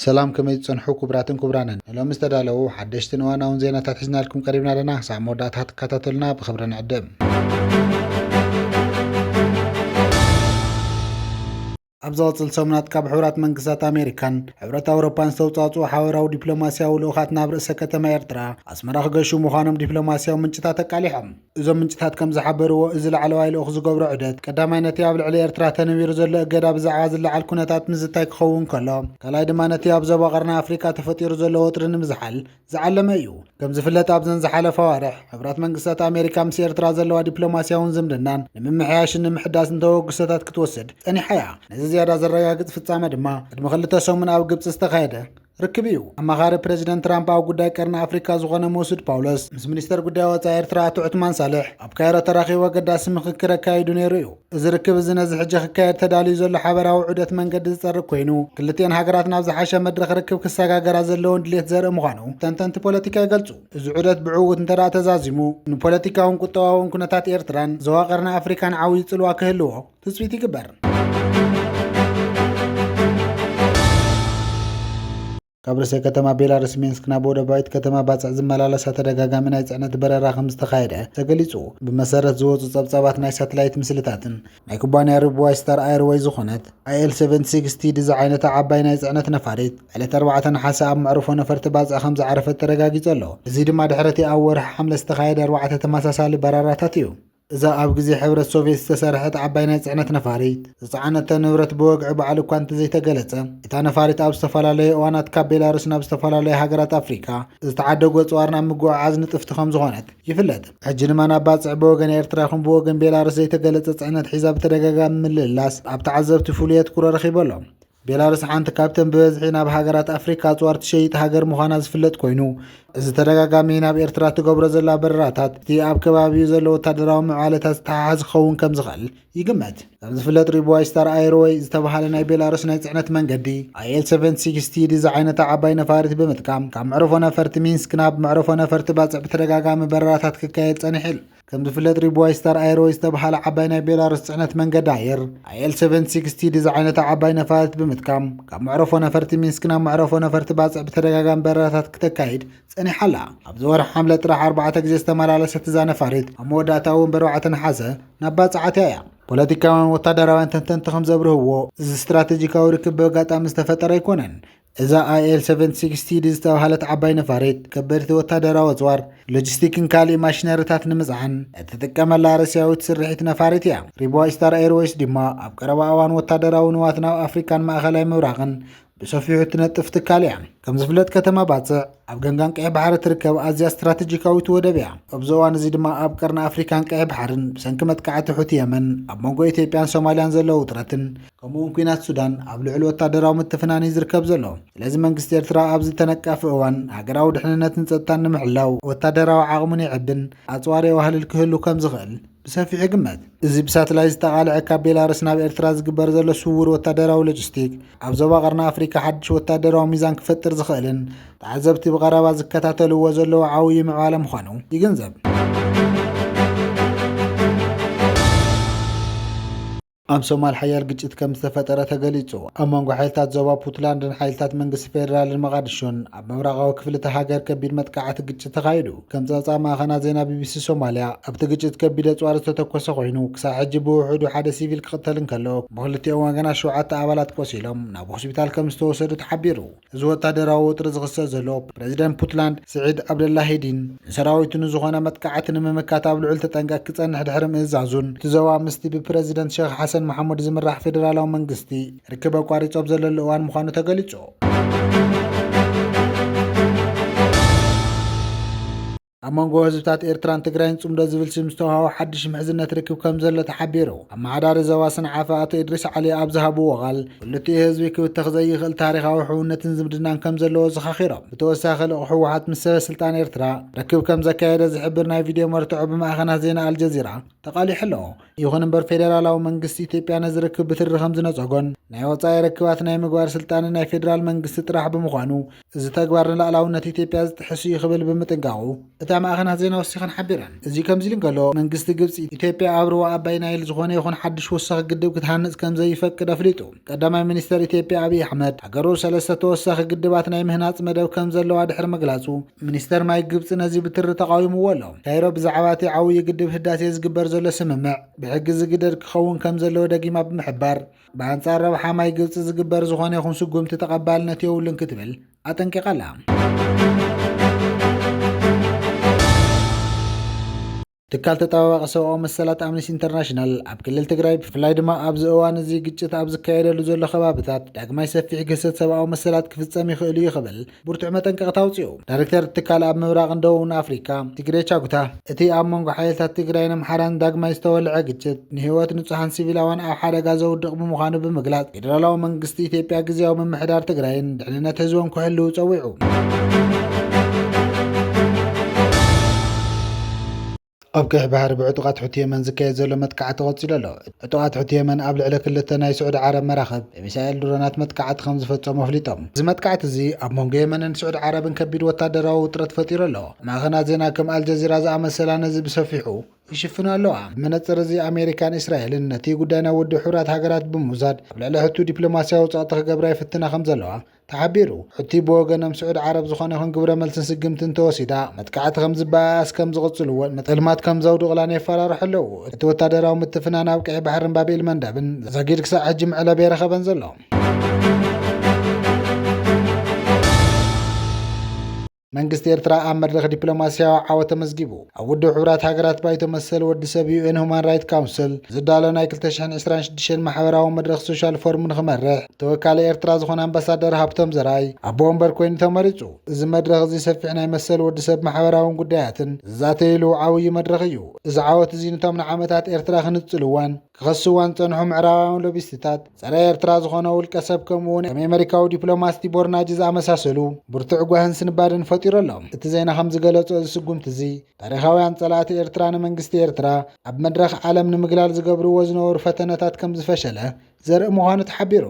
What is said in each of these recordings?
ሰላም ከመይ ዝፀንሑ ክቡራትን ክቡራንን ንሎሚ ዝተዳለዉ ሓደሽትን እዋናውን ዜናታት ሒዝናልኩም ቀሪብና ኣለና ክሳብ መወዳእታ ክትከታተሉና ብክብሪ ንዕድም ኣብ ዝቕፅል ሰሙናት ካብ ሕብራት መንግስታት ኣሜሪካን ሕብረት ኣውሮፓን ዝተውፃፅኡ ሓበራዊ ዲፕሎማስያዊ ልኡኻት ናብ ርእሰ ከተማ ኤርትራ ኣስመራ ክገሹ ምዃኖም ዲፕሎማስያዊ ምንጭታት ኣቃሊሖም። እዞም ምንጭታት ከም ዝሓበርዎ እዚ ላዕለዋይ ልኡኽ ዝገብሮ ዑደት ቀዳማይ ነቲ ኣብ ልዕሊ ኤርትራ ተነቢሩ ዘሎ እገዳ ብዛዕባ ዝለዓል ኩነታት ምዝታይ ክኸውን ከሎ ካልኣይ ድማ ነቲ ኣብ ዞባ ቀርኒ ኣፍሪቃ ተፈጢሩ ዘሎ ወጥሪ ንምዝሓል ዝዓለመ እዩ። ከም ዝፍለጥ ኣብዘን ዝሓለፋ ኣዋርሕ ሕብራት መንግስታት ኣሜሪካ ምስ ኤርትራ ዘለዋ ዲፕሎማስያውን ዝምድናን ንምምሕያሽን ንምሕዳስን ተበግሶታት ክትወስድ ጸኒሓ እያ። ነዚ ዝያዳ ዘረጋግጽ ፍጻመ ድማ ቅድሚ ክልተ ሰሙን ኣብ ግብጺ ዝተኻየደ ርክብ እዩ። ኣማኻሪ ፕረዚደንት ትራምፕ ኣብ ጉዳይ ቀርኒ ኣፍሪካ ዝኾነ መሱድ ፓውሎስ ምስ ሚኒስተር ጉዳይ ወጻኢ ኤርትራ ኣቶ ዑትማን ሳልሕ ኣብ ካይሮ ተራኺቡ ኣገዳሲ ምኽክር ኣካይዱ ነይሩ እዩ። እዚ ርክብ እዚ ነዚ ሕጂ ክካየድ ተዳልዩ ዘሎ ሓበራዊ ዑደት መንገዲ ዝፀርግ ኮይኑ ክልቲኤን ሃገራት ናብ ዝሓሸ መድረኽ ርክብ ክሰጋገራ ዘለውን ድሌት ዘርኢ ምዃኑ ተንተንቲ ፖለቲካ ይገልፁ። እዚ ዑደት ብዕውት እንተደኣ ተዛዚሙ ንፖለቲካውን ቁጠባውን ኩነታት ኤርትራን ዞባ ቀርኒ ኣፍሪካን ዓብዩ ፅልዋ ክህልዎ ትፅቢት ይግበር። ካብ ርእሰ ከተማ ቤላሩስ ሚንስክ ናብ ወደባዊት ከተማ ባጽዕ ዝመላለሳ ተደጋጋሚ ናይ ጽዕነት በረራ ከም ዝተኻየደ ተገሊጹ። ብመሰረት ዝወጹ ጸብጻባት ናይ ሳትላይት ምስልታትን፣ ናይ ኩባንያ ርቡዋይ ስታር ኣየርወይ ዝኾነት ኣይኤል ሰቨን ሲክስ ቲዲ ዝዓይነታ ዓባይ ናይ ጽዕነት ነፋሪት ዕለት ኣርባዕተ ነሓሰ ኣብ መዕርፎ ነፈርቲ ባጽዕ ከም ዝዓረፈት ተረጋጊጹ ኣሎ። እዚ ድማ ድሕሪ'ቲ ኣብ ወርሒ ሓምለ ዝተኻየደ ኣርባዕተ ተመሳሳሊ በረራታት እዩ። እዛ ኣብ ግዜ ሕብረት ሶቭየት ዝተሰርሐት ዓባይ ናይ ጽዕነት ነፋሪት፣ ዝጸዓነቶ ንብረት ብወግዒ ባዕሉ እኳ እንተዘይተገለጸ፣ እታ ነፋሪት ኣብ ዝተፈላለየ እዋናት ካብ ቤላሩስ ናብ ዝተፈላለያ ሃገራት ኣፍሪቃ ዝተዓደጉ ኣጽዋር ናብ ምጉዕዓዝ ንጥፍቲ ከምዝኾነት ይፍለጥ። ሕጂ ድማ ናብ ባጽዕ ብወገን ኤርትራ ይኹን ብወገን ቤላሩስ ዘይተገለጸ ጽዕነት ሒዛ ብተደጋጋሚ ምልልላስ ኣብ ተዓዘብቲ ፍሉይ ኣትኩሮ ረኺቡ ኣሎ። ቤላሩስ ሓንቲ ካብተን ብበዝሒ ናብ ሃገራት ኣፍሪካ ኣፅዋር ትሸይጥ ሃገር ምዃና ዝፍለጥ ኮይኑ እዚ ተደጋጋሚ ናብ ኤርትራ ትገብሮ ዘላ በረራታት እቲ ኣብ ከባቢኡ ዘሎ ወታደራዊ ምዕባለታት ዝተሓሓዝ ክኸውን ከም ዝኽእል ይግመት። ከም ዝፍለጥ ሪቡዋይ ስታር ኣይርወይ ዝተብሃለ ናይ ቤላሩስ ናይ ጽዕነት መንገዲ ኣይኤል 760 ዝዓይነታ ዓባይ ነፋሪት ብምጥቃም ካብ መዕርፎ ነፈርቲ ሚንስክ ናብ መዕርፎ ነፈርቲ ባጽዕ ብተደጋጋሚ በረራታት ክካየድ ጸኒሑ። ከም ዝፍለጥ ሪቡዋይ ስታር ኣየርወይ ዝተብሃለ ዓባይ ናይ ቤላሩስ ፅዕነት መንገዲ ኣየር ኣየል 760 ዝዓይነታ ዓባይ ነፋሪት ብምትካም ካብ መዕረፎ ነፈርቲ ሚንስክ ናብ መዕረፎ ነፈርቲ ባፅዕ ብተደጋጋሚ በረራታት ክተካይድ ፀኒሓ ኣላ። ኣብዚ ወርሒ ሓምለ ጥራሕ ኣርባዕተ ግዜ ዝተመላለሰት እዛ ነፋሪት ኣብ መወዳእታ እውን ብኣርባዕተ ነሓሰ ናብ ባፅዕ ኣትያ እያ። ፖለቲካውያን ወታደራውያን ተንተንቲ ከም ዘብርህዎ እዚ ስትራቴጂካዊ ርክብ ብኣጋጣሚ ዝተፈጠረ ኣይኮነን። እዛ ኣይኤል ሰቨን ሲክስ ቲዲ ዝተብሃለት ዓባይ ነፋሪት፣ ከበድቲ ወታደራዊ ኣጽዋር፣ ሎጂስቲክን ካልእ ማሽነሪታት ንምጽዓን እትጥቀመላ ሩስያዊት ስርሒት ነፋሪት እያ። ሪብዋ ኢስታር ኤርዌይስ ድማ ኣብ ቀረባ እዋን ወታደራዊ ንዋት ናብ ኣፍሪካን ማእኸላይ ምብራቕን ብሰፊሑ እትነጥፍ ትካል እያ። ከም ዝፍለጥ ከተማ ባጽዕ ኣብ ገምጋም ቀይሕ ባሕሪ እትርከብ ኣዝያ ስትራተጂካዊት ወደብ እያ። ኣብዚ እዋን እዚ ድማ ኣብ ቀርኒ ኣፍሪካን ቀይሕ ባሕርን ብሰንኪ መጥቃዕቲ ሑቲ የመን ኣብ መንጎ ኢትዮጵያን ሶማልያን ዘሎ ውጥረትን ከምኡውን ኩናት ሱዳን ኣብ ልዑል ወታደራዊ ምትፍናን እዩ ዝርከብ ዘሎ። ስለዚ መንግስቲ ኤርትራ ኣብዚ ተነቃፊ እዋን ሃገራዊ ድሕንነትን ጸጥታን ንምሕላው ወታደራዊ ዓቕሙን የዕብን ኣጽዋር የዋህልል ክህሉ ከም ዝኽእል ብሰፊሑ ይግመት። እዚ ብሳትላይ ዝተቓልዐ ካብ ቤላርስ ናብ ኤርትራ ዝግበር ዘሎ ስውር ወታደራዊ ሎጂስቲክ ኣብ ዞባ ቀርኒ ኣፍሪካ ሓድሽ ወታደራዊ ሚዛን ክፈጥር ዝኽእልን ተዓዘብቲ ብቐረባ ዝከታተልዎ ዘለዉ ዓውዪ ምዕባለ ምዃኑ ይግንዘብ። ኣብ ሶማል ሓያል ግጭት ከም ዝተፈጠረ ተገሊጹ። ኣብ መንጎ ሓይልታት ዞባ ፑትላንድን ሓይልታት መንግስቲ ፌደራልን መቓድሾን ኣብ ምብራቓዊ ክፍሊ እታ ሃገር ከቢድ መጥቃዕቲ ግጭት ተኻይዱ። ከም ጸብጻብ ማእኸና ዜና ቢቢሲ ሶማልያ፣ ኣብቲ ግጭት ከቢድ ኣጽዋር ዝተተኮሰ ኮይኑ፣ ክሳዕ ሕጂ ብውሑዱ ሓደ ሲቪል ክቕተል እንከሎ፣ ብኽልቲኦም ወገናት ሸውዓተ ኣባላት ቆሲሎም ናብ ሆስፒታል ከም ዝተወሰዱ ተሓቢሩ። እዚ ወታደራዊ ወጥሪ ዝኽሰት ዘሎ፣ ፕረዚደንት ፑትላንድ ስዒድ ኣብደላሂዲን ንሰራዊቱ ንዝኾነ መጥቃዕቲ ንምምካት ኣብ ልዑል ተጠንቀቅ ክጸንሕ ድሕሪ ምእዛዙን፣ እቲ ዞባ ምስቲ ብፕረዚደንት ሸኽ ሓሰን መሓሙድ ዝምራሕ ፌደራላዊ መንግስቲ ርክብ ኣቋሪጹ ኣብ ዘለሉ እዋን ምዃኑ ተገሊጹ። ኣብ መንጎ ህዝብታት ኤርትራን ትግራይን ጽምዶ ዝብል ስም ዝተውሃቦ ሓድሽ ምሕዝነት ርክብ ከም ዘሎ ተሓቢሩ። ኣመሓዳሪ ዞባ ሰንዓፈ ኣቶ ኢድሪስ ዓሊ ኣብ ዝሃብዎ ቃል፣ ክልቲኡ ህዝቢ ክብተኽ ዘይኽእል ታሪኻዊ ሕውነትን ዝምድናን ከም ዘለዎ ዘኻኺሮም። ብተወሳኺ ልኡኽ ህወሓት ምስ ሰበ ስልጣን ኤርትራ ርክብ ከም ዘካየደ ዝሕብር ናይ ቪድዮ መርትዖ ብማዕኸናት ዜና ኣልጀዚራ ተቓሊሑ ኣሎ። ይኹን እምበር ፌደራላዊ መንግስቲ ኢትዮጵያ ነዚ ርክብ ብትሪ ከም ዝነጸጎን ናይ ወጻኢ ርክባት ናይ ምግባር ስልጣን ናይ ፌደራል መንግስቲ ጥራሕ ብምዃኑ እዚ ተግባር ንላእላውነት ኢትዮጵያ ዝጥሕስ እዩ ክብል ብምጥንቃቑ እታ ማእኸናት ዜና ወሲኸን ሓቢረን። እዚ ከምዚ ኢሉ እንከሎ መንግስቲ ግብፂ ኢትዮጵያ ኣብ ሩባ ኣባይ ናይል ዝኾነ ይኹን ሓዱሽ ወሳኺ ግድብ ክትሃንፅ ከምዘይፈቅድ ኣፍሊጡ። ቀዳማይ ሚኒስተር ኢትዮጵያ ኣብይ ኣሕመድ ሃገሩ ሰለስተ ተወሳኺ ግድባት ናይ ምህናፅ መደብ ከምዘለዋ ድሕሪ ምግላፁ ሚኒስተር ማይ ግብፂ ነዚ ብትሪ ተቓዊምዎ ኣሎ። ካይሮ ብዛዕባ እቲ ዓውዪ ግድብ ህዳሴ ዝግበር ዘሎ ስምምዕ ብሕጊ ዝግደድ ክኸውን ከምዘለዎ ደጊማ ብምሕባር፣ ብኣንጻር ረብሓ ማይ ግብፂ ዝግበር ዝኾነ ይኹን ስጉምቲ ተቐባልነት የብሉን ክትብል ኣጠንቂቓላ። ትካል ተጠባባቂ ሰብኣዊ መሰላት ኣምነስቲ ኢንተርናሽናል ኣብ ክልል ትግራይ ብፍላይ ድማ ኣብዚ እዋን እዚ ግጭት ኣብ ዝካየደሉ ዘሎ ከባብታት ዳግማይ ሰፊሕ ግህሰት ሰብኣዊ መሰላት ክፍፀም ይኽእል'ዩ ክብል ብርቱዕ መጠንቀቕታ ኣውፂኡ። ዳይሬክተር እቲ ትካል ኣብ ምብራቕን ደቡብን ኣፍሪካ ቲግሬ ቻጉታ፣ እቲ ኣብ መንጎ ሓይልታት ትግራይን ኣምሓራን ዳግማይ ዝተወልዐ ግጭት ንህይወት ንፁሃን ሲቪላውያን ኣብ ሓደጋ ዘውድቕ ብምዃኑ ብምግላፅ ፌዴራላዊ መንግስቲ ኢትዮጵያ ግዝያዊ ምምሕዳር ትግራይን ድሕንነት ህዝቦም ክሕልው ፀዊዑ። ኣብ ቀይሕ ባሕሪ ብዕጡቓት ሑቲ የመን ዝካየድ ዘሎ መጥቃዕቲ ቀጺሉ ኣሎ። ዕጡቓት ሑቲ የመን ኣብ ልዕሊ ክልተ ናይ ስዑዲ ዓረብ መራኽብ ብሚሳኤል ድሮናት መጥቃዕቲ ከምዝፈጸሙ ኣፍሊጦም። እዚ መጥቃዕቲ'ዚ ኣብ መንጎ የመንን ስዑዲ ዓረብን ከቢድ ወታደራዊ ውጥረት ፈጢሩ ኣሎ። ማዕኸናት ዜና ከም ኣልጀዚራ ዝኣመሰላ ነዚ ብሰፊሑ ይሽፍና ኣለዋ። እዚ መነጽር እዚ ኣሜሪካን እስራኤልን ነቲ ጉዳይ ናብ ውድብ ሕቡራት ሃገራት ብምውሳድ ኣብ ልዕሊ ሑቲ ዲፕሎማስያዊ ጸቕጢ ክገብራ ይፍትና ከምዘለዋ ተሓቢሩ። ሑቲ ብወገኖም ስዑድ ዓረብ ዝኾነ ይኹን ግብረ መልስን ስግምትን ተወሲዳ መጥቃዕቲ ከምዝበኣያስ ከምዝቕፅልዎን ንጥልማት ከምዘውድቕላን የፈራርሑ ኣለው። እቲ ወታደራዊ ምትፍናን ኣብ ቀይሕ ባሕርን ባብ ኤል መንደብን ዛጊድ ክሳዕ ሕጂ መዕለቢ ኣይረኸበን ዘሎ። መንግስቲ ኤርትራ ኣብ መድረኽ ዲፕሎማስያዊ ዓወት ተመዝጊቡ ኣብ ውድብ ሕብራት ሃገራት ባይቶ መሰል ወዲ ሰብ ዩኤን ሁማን ራይት ካውንስል ዝዳሎ ናይ 226 ማሕበራዊ መድረኽ ሶሻል ፎርም ንክመርሕ ተወካሊ ኤርትራ ዝኾነ ኣምባሳደር ሃብቶም ዘርኣይ ኣቦ ወንበር ኮይኑ ተመሪጹ። እዚ መድረኽ እዚ ሰፊሕ ናይ መሰል ወዲ ሰብ ማሕበራውን ጉዳያትን ዝዛተይሉ ዓብዩ መድረኽ እዩ። እዚ ዓወት እዚ ንቶም ንዓመታት ኤርትራ ክንጽልዋን ክኸስዋን ዝጸንሑ ምዕራባውያን ሎቢስትታት፣ ጸረ ኤርትራ ዝኾነ ውልቀ ሰብ ከምኡ'ውን ከም ኤመሪካዊ ዲፕሎማት ቲቦር ናጅ ዝኣመሳሰሉ ብርቱዕ ጓህን ስንባደን ፈጢሩ ኣሎ። እቲ ዜና ከም ዝገለጾ እዚ ስጉምቲ'ዚ ታሪኻውያን ጸላእቲ ኤርትራ ንመንግስቲ ኤርትራ ኣብ መድረኽ ዓለም ንምግላል ዝገብርዎ ዝነበሩ ፈተነታት ከም ዝፈሸለ ዘርኢ ምዃኑ ተሓቢሩ።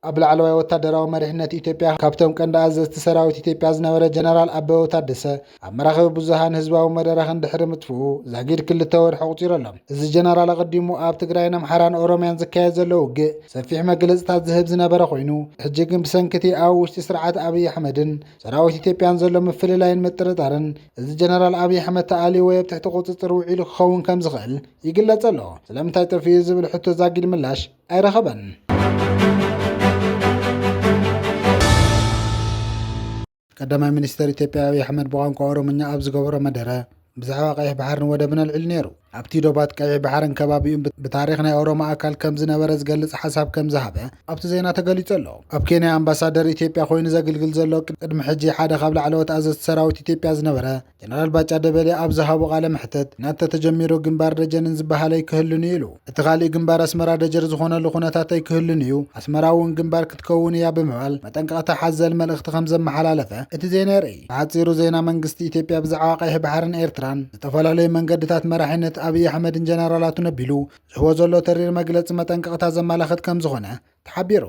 ኣብ ላዕለዋይ ወታደራዊ መሪሕነት ኢትዮጵያ ካብቶም ቀንዲ ኣዘዝቲ ሰራዊት ኢትዮጵያ ዝነበረ ጀነራል ኣበበ ታደሰ ኣብ መራኸቢ ብዙሃን ህዝባዊ መደረኽን ድሕሪ ምጥፍኡ ዛጊድ ክልተ ወርሒ ኣቑፂሩ ኣሎ። እዚ ጀነራል ኣቐዲሙ ኣብ ትግራይን ኣምሓራን ኦሮሚያን ዝካየድ ዘሎ ውግእ ሰፊሕ መግለፅታት ዝህብ ዝነበረ ኮይኑ ሕጂ ግን ብሰንኪ እቲ ኣብ ውሽጢ ስርዓት ኣብይ ኣሕመድን ሰራዊት ኢትዮጵያን ዘሎ ምፍልላይን ምጥርጣርን እዚ ጀነራል ኣብይ ኣሕመድ ተኣልዩ ወይ ኣብ ትሕቲ ቁፅፅር ውዒሉ ክኸውን ከም ዝኽእል ይግለፅ ኣሎ። ስለምንታይ ጠፊኡ ዝብል ሕቶ ዛጊድ ምላሽ ኣይረኸበን። ቀዳማይ ሚኒስትር ኢትዮጵያ ኣብዪ ኣሕመድ ብቋንቋ ኦሮምኛ ኣብ ዝገበሮ መደረ ብዛዕባ ቀይሕ ባሕርን ወደብን ኣልዒሉ ነይሩ ኣብቲ ዶባት ቀይሕ ባሕርን ከባቢኡን ብታሪክ ናይ ኦሮሞ ኣካል ከም ዝነበረ ዝገልጽ ሓሳብ ከም ዝሃበ ኣብቲ ዜና ተገሊጹ ኣሎ ኣብ ኬንያ ኣምባሳደር ኢትዮጵያ ኮይኑ ዘግልግል ዘሎ ቅድሚ ሕጂ ሓደ ካብ ላዕለዎት ኣዘዝቲ ሰራዊት ኢትዮጵያ ዝነበረ ጀነራል ባጫ ደበሌ ኣብ ዝሃቦ ቃለ መሕተት ኲናት ተተጀሚሩ ግንባር ደጀንን ዝበሃል ኣይክህሉን እዩ ኢሉ። እቲ ካሊእ ግንባር ኣስመራ ደጀር ዝኾነሉ ኩነታት ኣይክህሉን እዩ፣ ኣስመራ እውን ግንባር ክትከውን እያ ብምባል መጠንቀቕታ ሓዘል መልእኽቲ ከምዘመሓላለፈ እቲ ዜና የርእይ። ብሓጺሩ ዜና መንግስቲ ኢትዮጵያ ብዛዕባ ቀይሕ ባሕርን ኤርትራን ዝተፈላለዩ መንገድታት መራሒነት ኣብይ ኣሕመድን ጀነራላቱን ኣቢሉ ዝህቦ ዘሎ ተሪር መግለጺ መጠንቀቕታ ዘመላኽት ከምዝኾነ ተሓቢሩ።